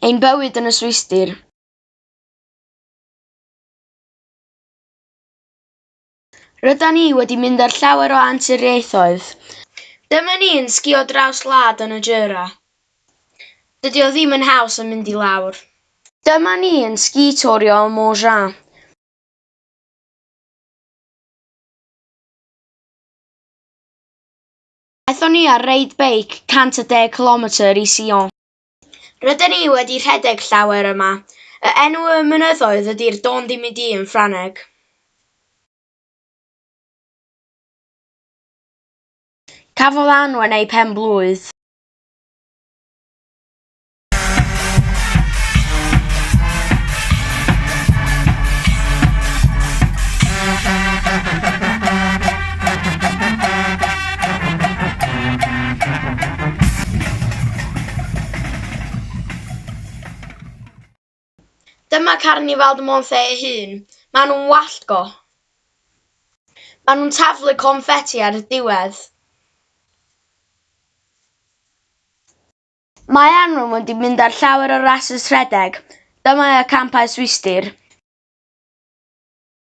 Ein bywyd yn y Swistir. Rydan ni wedi mynd ar llawer o anturiaethoedd. Dyma ni yn sgïo draws wlad yn y Jura. Dydy o ddim yn haws yn mynd i lawr. Dyma ni yn sgi-torio ym Mont Jean. Aethon ni ar reid beic 110 cilometr i Sion. Rydyn ni wedi rhedeg llawer yma. Y enw y mynyddoedd ydy'r Dôn Di Mi Di yn Ffrangeg. Cafodd Anwen ei phen-blwydd. Dyma carnifal dy Môn-lle ei hun. Maen nhw'n wallt go. Maen nhw'n taflu confeti ar y diwedd. Maen nhw'n mynd i mynd ar llawer o rasys rhedeg. Dyma y campau swistir.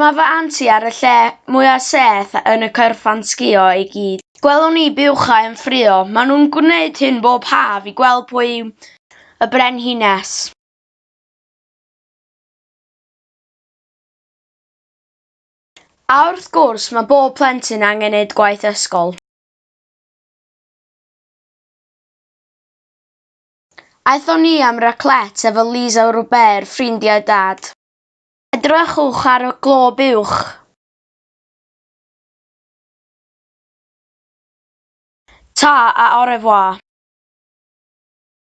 Mae fy aunt i ar y lle mwya seth yn y cyrchfan sgïo i gyd. Gwelwn ni buwchau yn ffrio. Maen nhw'n gwneud hyn bob haf i gweld pwy yw y brenhines. A wrth gwrs, mae bob plentyn angen neud gwaith ysgol. Aethon ni am raclette efo Lisa Robert, ffrindiau Dad. Edrychwch ar y glob uwch. Ta a au revoir.